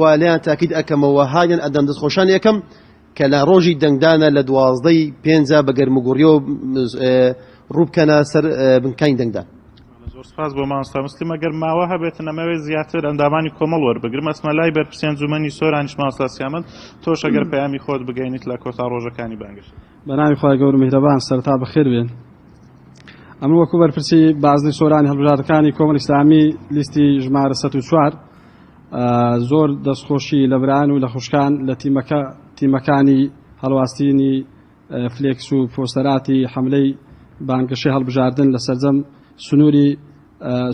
J: و لێیان تاکید ئەکەمەوە و هانیان ئەدەم دەستخۆشان لێکەم کە لە ڕۆژی دەنگدانە لە دوازدە ی پێنجە بە گەرموگوڕیەوە ڕووبکەنە سەر بنکانی دەنگدان. زۆر سپاس بۆ
H: مامۆستا مسلم ئەگەر ماوە هەبێتن ئەمەوێت زیاتر ئەندامانی کۆمەڵ وەربگرم ئەچمە لای بەرپرسی ئەنجومەنی سۆرانیش مامۆستا سیامەند تۆش ئەگەر پەیامی خۆت بگەینیت لە کۆتا ڕۆژەکانی بانگەشە. بەناوی خوای گەور و
K: میهرەبان سەرتا بەخێر بێن ئەمن وەکو بەرپرسی بازنەی سۆرانی هەڵبژاردەکانی کۆمەڵی ئیسلامی لیستی ژمارە سەد و چوار، زۆر دەست خۆشی لە برایان و لە خوشکان لە تیمەکە تیمەکانی هەڵواستینی فلێکس و پۆستەراتی حەملەی بانگەشەی هەڵبژاردن لە سەرجەم سنووری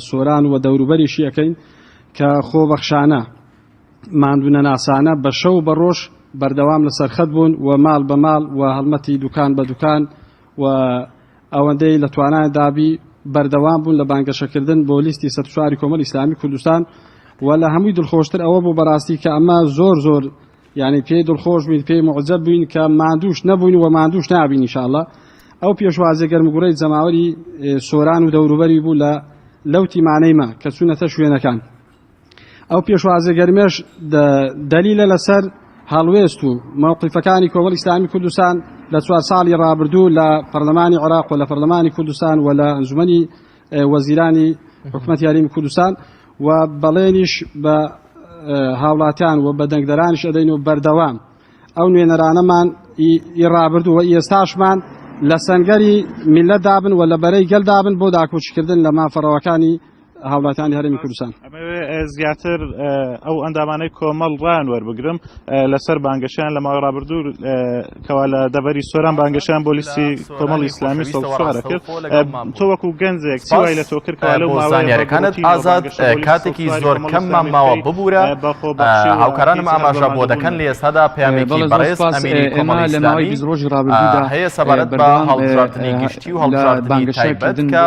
K: سۆران و دەوروبەریشی ئەکەین کە خۆبەخشانە ماندوونەناسانە بە شەو و بە ڕۆژ بەردەوام لە سەرخەت بوون و ماڵ بە ماڵ و هەڵمەتی دوکان بە دوکان و ئەوەندەی لە توانایاندا بی بەردەوام بوون لە بانگەشەکردن بۆ لیستی سەد و چواری کۆمەڵی ئیسلامی کوردستان و لە هەمووی دڵخۆشتر ئەوە بوو بەراستی کە ئەمە زۆر زۆر یعنی پێی دڵخۆش بووین پێی معجب بووین کە ماندووش نەبووین و ماندووش نابین انشاءاللە ئەو پێشوازیە گەرمگوڕەی جەماوەری سۆران و دەوروبەری بوو لە لەو تیمانەی مە کە چوونەتە شوێنەکان. ئەو پێشوازە گەرمەش دەلیلە لەسەر هەڵوێست و مەوقیفەکانی کۆمەڵی ئیسلامی کوردستان لە چوار ساڵی ڕابردوو لە پەرلەمانی عێراق و لە پەرلەمانی کوردستان و لە ئەنجومەنی وەزیرانی حکومەت یاریمی کوردستان و بەڵێنیش بە هاوڵاتیان و بە دەنگدەرانیش ئەدەین و بەردەوام ئەو نوێنەرانەمان ئی ڕابردوو و ئێستاشمان لە سەنگەری میلەت دابن و لە بەرەی گەل دابن بۆ داکۆکیکردن لە مافەڕەوەکانی هاوڵاتیانی هەرێمی کوردستان. زیاتر
H: ئەو ئەندامانەی کۆمەڵ ڕان وەربگرم لەسەر بانگەشیان لە ماوەی ڕابردوو کەوا لە دەبەری سۆران بانگەشیان بۆ لیستی کۆمەڵ ئیسلامی سەڵسوارە کرد تۆ وەکو گەنجێک چوای لە تۆ کرد لە زانیارەکانت ئازاد
A: کاتێکی زۆر کەممان ماوە ببوورە هاوکارانم ئاماژە بۆ دەکەن لە ئێستادا پێیانی بەڕێز ئەمیری کۆمەڵ ئیسلامی ڕۆژی ڕابردوودا هەیە سەبارەت بە هەڵبژاردنی گشتی و هەڵبژاردنی تایبەت کە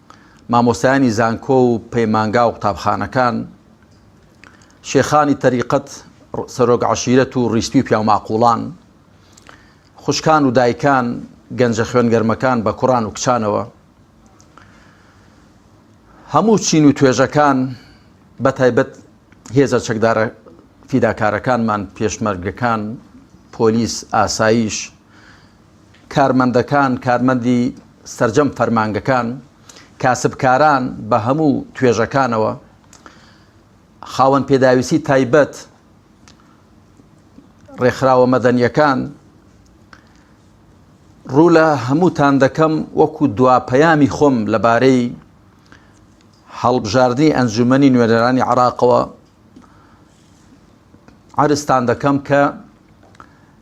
L: مامۆستایانی زانکۆ و پەیمانگا و قوتابخانەکان، شێخانی تەریقەت، سەرۆک عەشیرەت و ڕیسپی و پیاوماقوڵان، خوشکان و دایکان، گەنجە خوێنگەرمەکان بە کوڕان و کچانەوە، هەموو چین و توێژەکان، بە تایبەت هێزە چەکدارە فیداکارەکانمان، پێشمەرگەکان، پۆلیس، ئاسایش، کارمەندەکان، کارمەندی سەرجەم فەرمانگەکان، کاسبکاران بە هەموو توێژەکانەوە، خاوەن پێداویستی تایبەت، ڕێکخراوە مەدەنیەکان، ڕوو لە هەمووتان دەکەم وەکو دوا پەیامی خۆم لەبارەی هەڵبژاردنی ئەنجومەنی نوێنەرانی عراقەوە عەرزتان دەکەم کە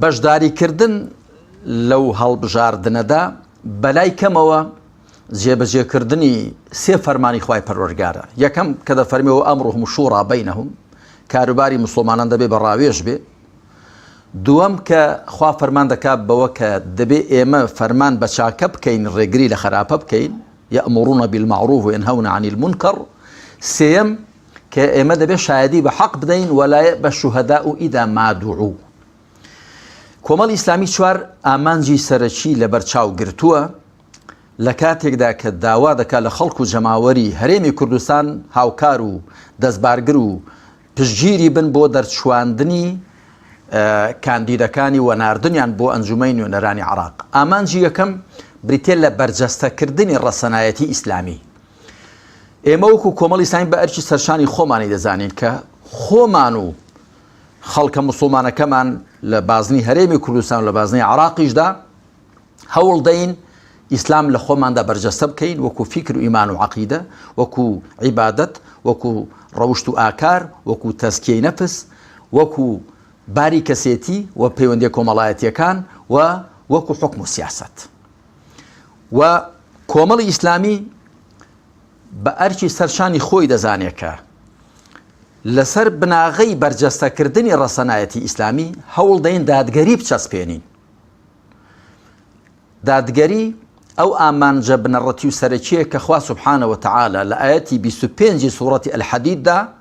L: بەشداریکردن لەو هەڵبژاردنەدا بەلای کەمەوە جێبەجێکردنی سێ فەرمانی خوای پەروەرگارە یەکەم کە دەفەرمی و ئەمڕ هم شوڕا بینهم کاروباری مسلمانان دەبێ بە ڕاوێژ بێ دووەم کە خوا فەرمان دەکات بەوە کە دەبێ ئێمە فەرمان بە چاکە بکەین ڕێگری لە خراپە بکەین یە ئەمڕونە بیلمەعروف وێن هەونە عنی المنکر سێم کە ئێمە دەبێ شایەدی بە حەق بدەین وەلایە بە شوهدا و ئیدا مادوعو کۆمەڵ ئیسلامی چوار ئامانجی سەرەکی لە بەرچاو گرتووە لە کاتێکدا کە داوا دەکات لە خەڵک و جەماوەری هەرێمی کوردستان هاوکار و دەستبارگر و پشگیری بن بۆ دەرچواندنی کاندیدەکانی و ناردنیان بۆ ئەنجومی نوێنەرانی عراق ئامانجی یەکەم بریتە لە بەرجەستەکردنی ڕەسەنایەتی ئیسلامی ئێمە وەکو کۆمەڵی ساین بە ئەرکی سەرشانی خۆمانی دەزانین کە خۆمان و خەڵکە مسلمانەکەمان لە بازنی هەرێمی کوردستان لە بازنی عراقیشدا هەوڵ دەین ئیسلام لە خۆماندا بەرجەستە بکەین وەکو فیکر و ئیمان و عقیدە وەکو عیبادت وەکو ڕەوشت و ئاکار وەکو تەسکیی نەفس وەکو باری کەسێتی و پەیوەندی کۆمەڵایەتیەکان و وەکو حکم و سیاست. و کۆمەڵی ئیسلامی بە ئەرکی سەر شانی خۆی دەزانێت کە لەسەر بناغەی بەرجەستەکردنی ڕەسەنایەتی ئیسلامی هەوڵ دەین دادگەری بچەسپێنین دادگەری ئەو ئامانجە بنەڕەتی و سەرەکیە کە خوا سبحانەوە تعاالە لە ئاەتی 25 سوڕەتی الحەدیددا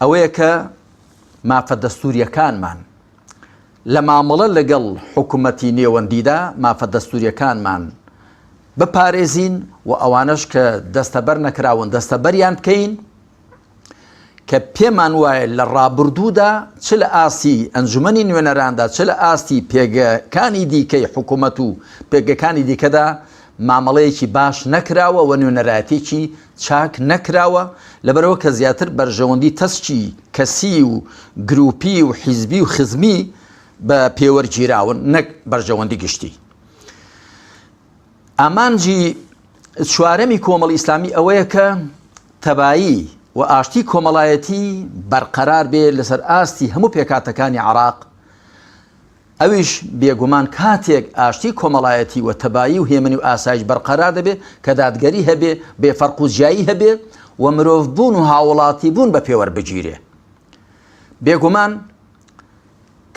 L: ئەوەیە کە مافە دەستوورییەکانمان لە مامەڵە لەگەڵ حکومەتی نێوەندیدا مافە دەستوورییەکانمان بپارێزین و ئەوانەش کە دەستەبەر نەکراون دەستەبەریان بکەین کە پێمان وایە لە ڕابردوودا چ لە ئاستی ئەنجومنی نوێنەراندا چ لە ئاستی پێگەکانی دیکەی حکوومەت و پێگەکانی دیکەدا مامەڵەیەکی باش نەکراوە و نوێنەرایەتێکی چاک نەکراوە، لەبەرئەوە کە زیاتر بەرژەوەندی تەسکی کەسی و گروپی و حیزبی و خزمی بە پێوەرگیراون نەک بەرژەوەندی گشتی. ئامانجی چوارەمی کۆمەڵی ئیسلامی ئەوەیە کە تەبایی و ئاشتی کۆمەڵایەتی بەرقەرار بێ لەسەر ئاستی هەموو پێکاتەکانی عراق، ئەویش بێگومان کاتێک ئاشتی کۆمەڵایەتی و تەبایی و هێمنی و ئاسایش بەرقەرار دەبێ کە دادگەری هەبێ، بێ فەرق و جیایی هەبێ و مرۆڤ بوون و هاووڵاتی بوون بە پێوەر بگیرێ. بێگومان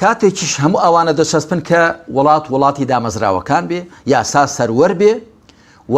L: کاتێکیش هەموو ئەوانە دەچەسپن کە وڵات وڵاتی دامەزراوەکان بێ، یاسا سەروەر بێ و،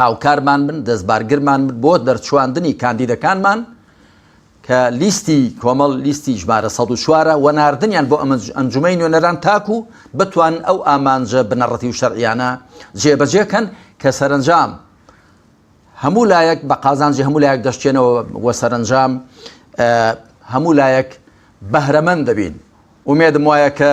L: هاوکارمان بن، دەستبارگرمان بن بۆ دەرچواندنی کاندیدەکانمان کە لیستی کۆمەڵ لیستی ژمارە سەد و چوارە و ناردنیان بۆ ئەنجومەی نوێنەران تاکو بتوان ئەو ئامانجە بنەڕەتی و شەرعیانە جێبەجێکەن کە سەرەنجام هەموو لایەک بە قازانجی هەموو لایەک دەشتێنەوە وە سەرەنجام هەموو لایەک بەهرەمەند دەبین ومێدم وایە کە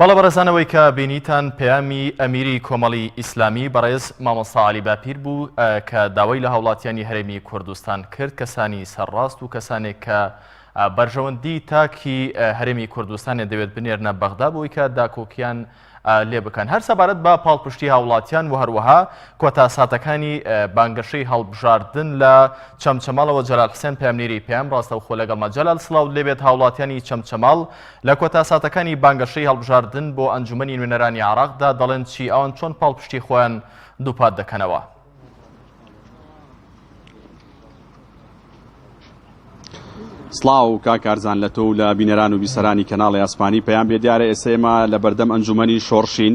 A: بەڵێ بەڕێزان ئەوەی کە بینیتان پەیامی ئەمیری کۆمەڵی ئیسلامی بەڕێز مامۆستا عەلی باپیر بوو کە داوای لە هاوڵاتیانی هەرێمی کوردستان کرد کەسانی سەرڕاست و کەسانێک کە بەرژەوەندی تاکی هەرێمی کوردستانێ دەوێت بنێرنە بەغدا بۆی کە داکۆکیان لێ بکەن هەر سەبارەت بە پاڵپشتی هاوڵاتیان و هەروەها کۆتا ساتەکانی بانگەشەی هەڵبژاردن لە چەمچەماڵەوە جەلال حسێن پامنیری پێم ڕاستەوخۆ لەگەڵ مەجەلال سلااو لێبێت هاوڵاتیانی چەمچەماڵ لە کۆتا ساتەکانی بانگەشەی هەڵبژاردن بۆ ئەنجومەنی نوێنەرانی عێراقدا دەڵێن چی، ئەوان چۆن پاڵپشتی خۆیان دووپات دەکەنەوە؟
M: سڵاو کاک کارزان لە تۆ و لە بینەران و بیسەرانی کەناڵی ئاسمانی پەیام بێ دیارە ئێستا ئێمە لە بەردەم ئەنجومەنی شۆڕشین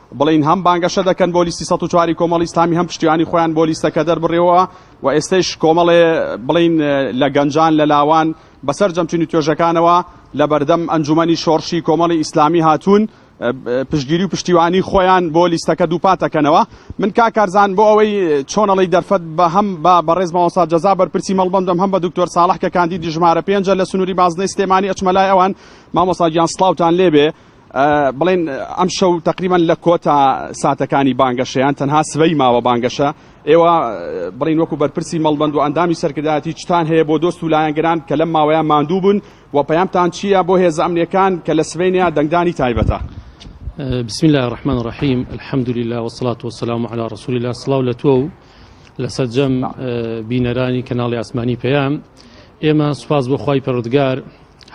M: بڵێین هەم بانگەشە دەکەن بۆ لیستی سەد و چواری کۆمەڵی ئیسلامی هەم پشتیوانی خۆیان بۆ لیستەکە دەربڕیەوە و ئێستەیش کۆمەڵێ بڵین لە گەنجان لە لاوان بەسەر جەمچین و توێژەکانەوە لە بەردەم ئەنجومەنی شۆڕشی کۆمەڵی ئیسلامی هاتوون پشتگیری و پشتیوانی خۆیان بۆ لیستەکە دووپاتەکەنەوە من کاکارزان بۆ ئەوەی چۆنەڵی دەرفەت بە هەم بە بەڕێز ماوەسا جەزا بەرپرسی مەڵبندم هەم بە دکتۆر ساڵح کە کاندیدی ژمارە پێنجە لە سنووری بازنەی سلێمانی ئەچمەلای ئەوان مامۆساگیان سلااوان لێبێ بڵێن ئەمشەو تەقریبەن لە کۆتا ساتەکانی بانگەشەیان تەنها سبەی ماوە بانگەشە ئێوە بڵین وەکو بەرپرسی مەڵبند و ئەندامی سەرکردایەتی چتان هەیە بۆ دۆست و لایەنگران کە لەم ماوەیان ماندوو بوون و پەیامتان چییە بۆ هێزە ئەمنیەکان کە لە سبەینەیە دەنگدانی تایبەتە بسم
N: الله الرحمن الرحیم الحمد لله والصلاة والسلام على رسول الله سڵاو لە تۆ و لە سەرجەم بینەرانی کەناڵی ئاسمانی پەیام ئێمە سوپاس بۆ خی پەرودگار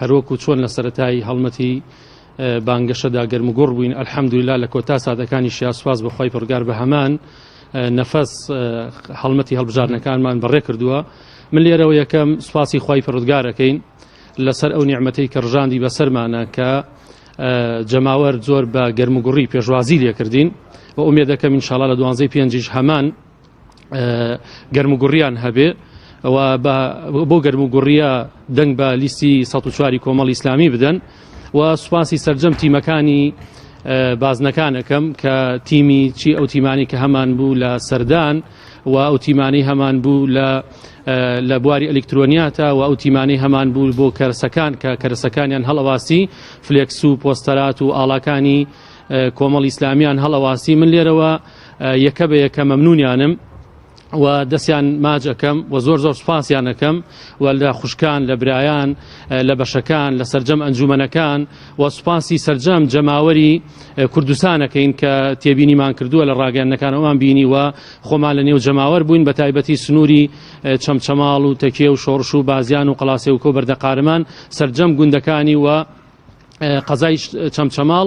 N: هەروەک و چۆن لە سەتایی هەڵمەتی بانگەشەدا گەرمگوڕ بووین ئەلحەمدویلا لە کۆتا سادەکانی شیا سوپاس بۆ خی پڕگار بە هەمان نەفەس هەڵمەتی هەڵبژارنەکانمان بەڕێ کردووە من لێرەوە یەکەم سوپاسی خی پڕودگارەکەین لەسەر ئەو نیعممەتی کە ڕژاندی بەسەرمانە کە جەماوەر زۆر بە گەرموگوڕی پێشوازی لێکردین و ئومێدەکەم انشاءاللە لە دوانزەی پێنجیش هەمان گەرموگوڕیان هەبێ ئەوە بۆ گەرموگوڕیە دەنگ بە لیستی ١چواری کۆمەڵ ئیسلامی بدەن و سوپاسی سرجەم تیمەکانی بازنەکانەکەم کە تیمی چی ئەو تیمانی کە هەمان بوو لە سەردان و و ئەو تیمانەی هەمان بوو لە لە بواری ئەلکترۆنیاتە و ئەو تیمانەی هەمان بوو بۆ کەرسەکان کە کەرسەکانیان هەڵەواسی فلێکس و پۆستەرات و ئاڵاکانی کۆمەڵ ئیسلامیان هەڵەواسی من لێرەوە یەکە بە یەکە مەمنونیانم و دەستیان ماجەکەم و زۆر زۆر سوپاسیانەکەم و لە خوشکان لە برایان لە بەشەکان لە سرجەم ئەنجومەنەکان و سوپاسی سرجەم جەماوەری کوردستانەکەین کە تێبینیمان کردووە لە ڕاگەندنەکانەوەمان بینی و خۆمان لە نێو جەماوەر بووین بە تایبەتی سنووری چەمچەماڵ و تەکێ و شۆڕش و بازیان و قەڵاسێ و کۆ بەردە قارمان سرجەم گوندەکانی و قەزای چەمچەماڵ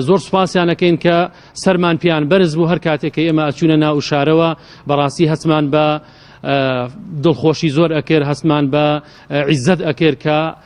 N: زۆر سوپاسیانەکەین کە سەرمان پیان بەرز بوو هەر کاتێک کە ئێمە ئەچوونە ناو شارەوە بەڕاستی هەستمان بە دڵخۆشی زۆر ئەکرد هەستمان بە عیزت ئەکرد کە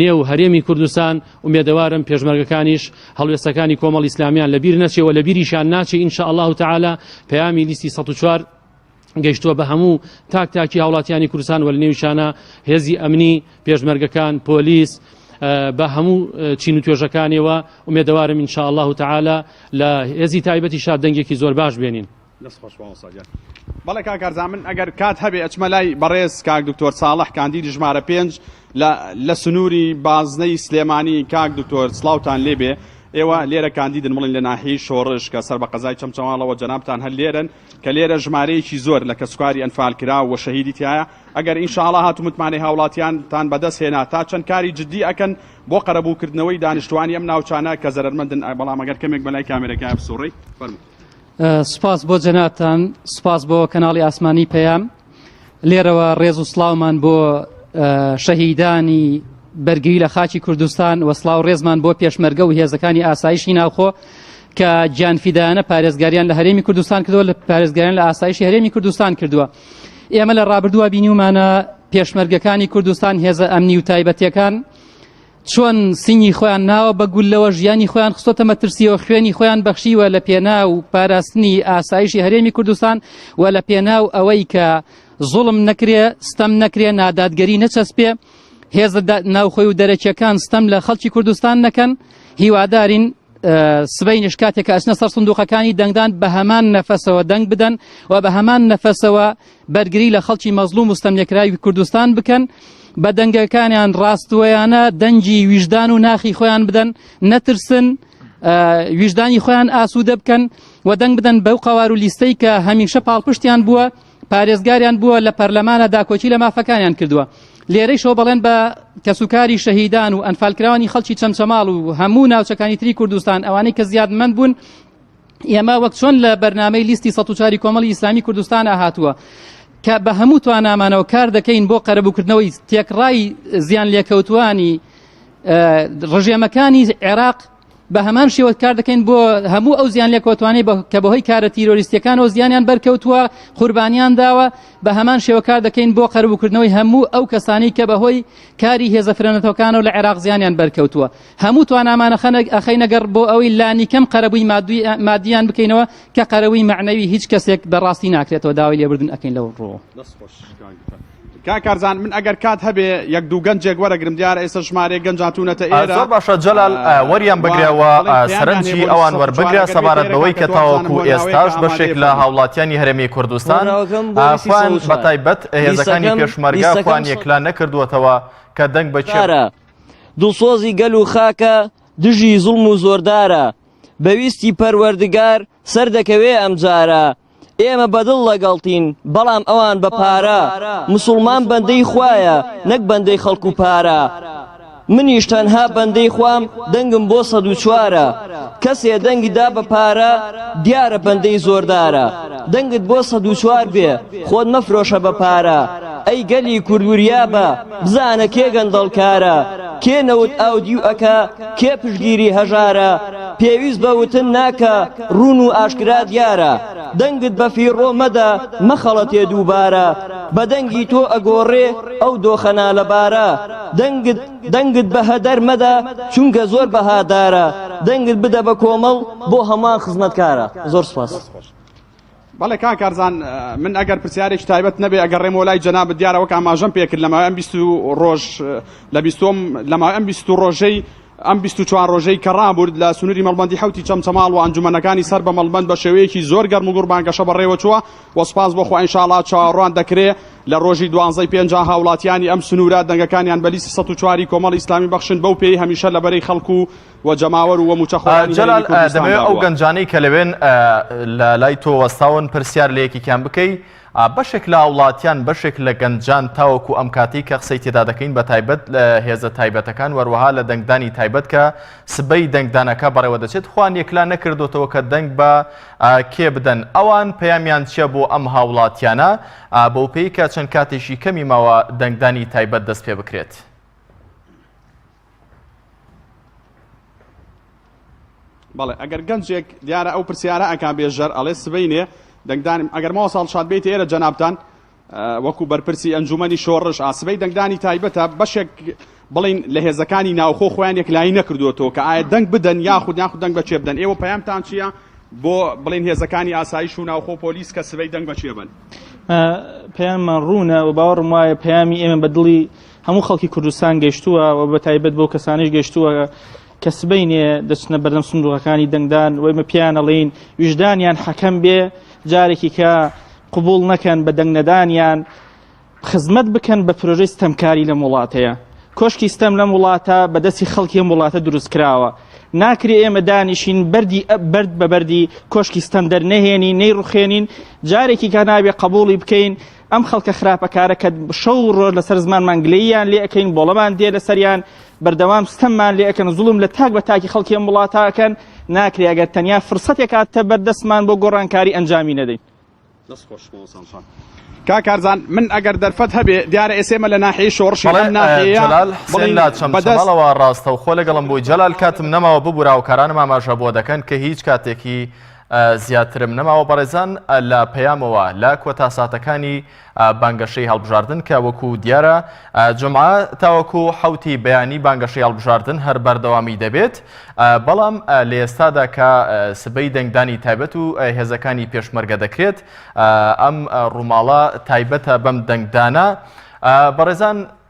N: نێو هەرێمی کوردستان، ئومێدەوارم پێشمەرگەکانیش هەڵوێستەکانی کۆمەڵی ئیسلامیان لە بیر نەچێ و لە بیریشیان ناچێ ان شاء اللە تعالی پەیامی لیستی سەد و چوار گەیشتووە بە هەموو تاک تاکی هاوڵاتیانی کوردستان وە لە نێویشانە هێزی ئەمنی پێشمەرگەکان پۆلیس بە هەموو چین و توێژەکانیەوە ئومێدەوارم ان شاء اللە تعالی لە هێزی تایبەتی شاد دەنگێکی زۆر باش بێنین دەست خۆش مامۆستا گیان.
M: بەڵێ کاک کارزان من ئەگەر کات هەبێ ئەچمە لای بەڕێز کاک دکتۆر ساڵح کاندیدی ژمارە پێنج لە لە سنووری بازنەی سلێمانی کاک دکتۆر سڵاوتان لێ بێ ئێوە لێرە کاندیدن بڵین لە ناحیەی شۆڕش کە سەر بە قەزای چەمچەماڵەوە جەنابتان هەر لێرەن کە لێرە ژمارەیەکی زۆر لە کەسوکاری ئەنفال کرا و شەهیدی تایە ئەگەر ئینشاڵا هاتو متمانەی هاوڵاتیانتان بەدەست هێنا تا چەند کاری جددی ئەکەن بۆ قەرەبووکردنەوەی دانیشتوانی ئەم ناوچانە کە زەرەرمەندن بەڵام ئەگەر کەمێک بەلای کامێرەکە بسوڕی فەرموو سپاس بۆ
O: جەنابتان سپاس بۆ کەناڵی ئاسمانی پەیام لێرەوە ڕێز و سلااومان بۆ شەهیدانی بەرگری لە خاچی کوردستان وەسلااو ڕێزمان بۆ پێشمەرگە و هێزەکانی ئاسایشی ناوخۆ کە گیانفیدایانە پارێزگاریان لە هەرێمی کوردستان کردووە لە پارێزگاریان لە ئاسایشی هەرێمی کوردستان کردووە ئێمە لە ڕابردووە بینیومانە پێشمەرگەکانی کوردستان هێزە ئەمنی و تایبەتەکان چۆن سینگی خۆیان ناوە بە گوللەوە ژیانی خۆیان خستۆتە مەترسیەوە خوێنی خۆیان بەخشیوە لە پێنا و پاراستنی ئاسایشی هەرێمی کوردستان و لە پێنا و ئەوەی کە زوڵم نەکرێ ستەم نەکرێ نادادگەری نەچەسپێ هێزە ناوخۆی و دەرەکیەکان ستەم لە خەڵکی کوردستان نەکەن هیوادارین سبەینش کاتێک ئەچنە سەر سندوقەکانی دەنگدان بە هەمان نەفەسەوە دەنگ بدەن و بە هەمان نەفەسەوە بەرگری لە خەڵکی مەزلوم وستەم لێکراوی کوردستان بکەن بە دەنگەکانیان ڕاستوەیانە دەنگی ویژدان و ناخی خۆیان بدەن نەترسن ویژدانی خۆیان ئاسوودە بکەن و دەنگ بدەن بەو قوار و لیستەی کە هەمیشە پاڵپشتیان بووە پارێزگاریان بووە لە پەرلەمانە داکۆکی لە مافەکانیان کردووە لێرەیشەوە بەڵێن بە کەسوکاری شەهیدان و ئەنفالکراوانی خەڵکی چەمچەماڵ و هەموو ناوچەکانی تری کوردستان ئەوانەی کە زیادمەند بوون ئێمە وەک چۆن لە بەرنمەی لیستی سە چاری کۆمەڵی ئیسلامی کوردستان هاتووە کە بە هەموو توانامانەوە کار دەکەین بۆ قەرەبووکردنەوەی تێکڕای زیان لێکەوتوانی ڕژێمەکانی عێراق بە هەمان شێوە کار دەکەین بۆ هەموو ئەو زیان لێکۆتوانەی کە بەهۆی کارە تیرۆریستەکانەوە زیانیان بەرکەوتووە قوربانیان داوە بە هەمان شێوە کار دەکەین بۆ قەربکردنەوەی هەموو ئەو کەسانی کە بەهۆی کاری هێزە فرەنەتەکانەوە لە عێراق زیانیان بەرکەوتووە هەموو توانامانە خەنەک ئەخەی نەگەڕ بۆ ئەوەی لانیکەم قەرەبووی مادوی مادیان بکەینەوە کە قەرەوەی معنەوی هیچ کەسێک بەڕاستی ناکرێتەوە داوای لێبردن ئەەکەین لەو ڕۆ کاک
M: کارزان من ئەگەر کات هەبێ یەک دوو گەنجێک وەرەگرم دیارە ئێستا ژمارەی گەنج هاتوونەتە ئێرە زۆر باشە جەلال
A: وەریان بگرە و سەرنجی ئەوان وەربگرە سەبارەت بەوەی کە تاوەکو ئێستاش بەشێک لە هاوڵاتیانی هەرێمی کوردستان ئافان بە تایبەت هێزەکانی پێشمەرگا خوان یەکلا نەکردووەتەوە کە دەنگ بە چارە دڵسۆزی
P: گەل و خاکە دژی زوڵم و زۆردارە بەویستی پەروەردگار سەردەکەوێ ئەمجارە ئێمە بەدڵ لەگەڵتین بەڵام ئەوان بە پارە مسوڵمان بەندەی خوایە نەک بەندەی خەڵک و پارە منیش تەنها بەندەی خوام دەنگم بۆ سەد و چوارە کەسێ دەنگی دا بە پارە دیارە بەندەی زۆردارە دەنگت بۆ سەد و چوار بێ خۆت مەفرۆشە بە پارە ئەی گەلی کورد وریابە بزانە کێ گەندەڵکارە کێ نەوت ئاودیو ئەکا کێ پشتگیری هەژارە پێویست بە وتن ناکا ڕوون و ئاشکرا دیارە دەنگت بە فیڕۆ مەدە مەخەڵەتێ دووبارە بە دەنگی تۆ ئەگۆڕێ ئەو دۆخە نالەبارە دەنگت دەنگت بە هەدەر مەدە چونکە زۆر بەهادارە دەنگت بدە بە کۆمەڵ بۆ هەمان خزمەتکارە زۆر سپاس.
M: بەڵێ کاک کارزان من ئەگەر پرسیارێکی تایبەت نەبێ ئەگەڕێمەوە لای جەنابت دیارە وەک ئاماژەم پێکرد لەماوەی ئەم بیست و ڕۆژ لە بیستۆم لەماوەی ئەم بیست و ڕۆژەی ئەم 24 ڕۆژەی کە ڕابوورد لە سنووری مەڵبندی حوتی چەمچەماڵ و ئەنجومەنەکانی سەر بە مەڵبند بە شێوەیەکی زۆر گەرم و گوڕ بانگەشە بەڕێوە چووە و سپاس بۆ خوا ئینشاڵا چاوەڕوان دەکرێ لە ڕۆژی دوانزەی پێنجا هاوڵاتیانی ئەم سنوورە دەنگەکانیان بە لیستی 104 کۆمەڵی ئیسلامی بەخشن بەو پێی هەمیشە لە بەرەی خەڵک و و جەماوەر و موچەخۆرانی هەرێمی کوردستان داوە. جەلال دەمەوێ ئەو
A: گەنجانەی کە لەوێن لە لای تۆ وەستاون پرسیار لە یەکێکیان بکەی بەشێک لە هاوڵاتیان بەشێک لە گەنجان تاوەکو ئەم کاتەی کە قسەی تێدا دەکەین بە تایبەت لە هێزە تایبەتەکان وەروەها لە دەنگدانی تایبەت کە سبەی دەنگدانەکە بەڕێوە دەچێت خوان یەکلا نەکردوتەوە کە دەنگ بە کێ بدەن ئەوان پەیامیان چیە بۆ ئەم هاوڵاتیانە بەو پێی کە چەند کاتێکی کەمی ماوە دەنگدانی تایبەت دەست پێ بکرێت.
M: بەڵێ ئەگەر گەنجێک دیارە ئەو پرسیارە ئەکا بێژەر ئەڵێ سبینێ دەنگدانم ئەگەرمەوە ساڵ شاد بیت ئێرە جەنابان وەکو بەرپرسی ئەنجومی شۆڕش ئاسبەی دەنگدانی تایبەتە بەشێک بڵین لە هێزەکانی ناوخۆ خۆیان یەکلایی نەکردوەوە کە ئایا دەنگ بدەن یاخود یاخود دەنگ بەچێ بدەن ئێوە پەیامتان چییە بۆ بڵین هێزەکانی ئاسایش و ناوخۆ پۆلیس کە سبەی دەنگ بەچێ بن
Q: پەیاممان ڕوونە و باوەڕم وایە پەیامی ئێمە بە دڵی هەموو خەڵکی کوردستان گەشتووە و بە تایبەت بۆ کەسانیش گەشتووە کە سبینێ دەچنە بەردەم سندوقەکانی دەنگدان وەمە پیانەڵین ویژدانیان حەکەم بێ جارێکی کە قوبول نەکەن بە دەنگنەدانیان خزمەت بکەن بە پرۆژەی ستەمکاری لەم وڵاتەیە کۆشکی ستەم لەم وڵاتە بەدەستی خەڵکی ئەم وڵاتە دروست کراوە ناکرێ ئێمە دانیشین بەری بەرد بە بەری کۆشکی ستەم دەرنەهێنی نەی ڕخێنین جارێکی کە نابێ قبولی بکەین ئەم خەڵکە خراپەکارە کە شەو و ڕۆژ لەسەر زمانمان گلەییان لێ ئەکەین بۆڵەمان دێ لەسەریان بەردەوام ستەممان لێ ئەکەن زوڵم لە تاک بە تاکی خەڵکی ئەم وڵاتاکەن ناکرێ ئەگەر تەنیا فرسەتێک هاتە بەردەستمان بۆ گۆڕانکاری ئەنجامی نەدەین دەست خۆش مامۆستام شاد
M: کاکارزان من ئەگەر دەرفەت هەبێ دیارە ئێسێمە لە ناحیەی شۆڕشی بەڵێ، ئەم ناحیەیە ئه، جەلال حسێن بڵێین لە چەم بەدەست
A: چەماڵەوە ڕاستەوخۆ لەگەڵم بووی جەلال کاتم نەماوە ببورە هاوکارانم ئاماژە بۆ دەکەن کە هیچ کاتێکی زیاترم نەماوە بەڕێزان لە پەیامەوە لە کۆتا ساتەکانی بانگەشەی هەڵبژاردن کە وەکو دیارە جمعە تاوەکو حوتی بەیانی بانگەشەی هەڵبژاردن هەر بەردەوامی دەبێت بەڵام لە ئێستادا کە سبەی دەنگدانی تایبەت و هێزەکانی پێشمەرگە دەکرێت ئەم ڕووماڵە تایبەتە بەم دەنگدانە بەڕێزان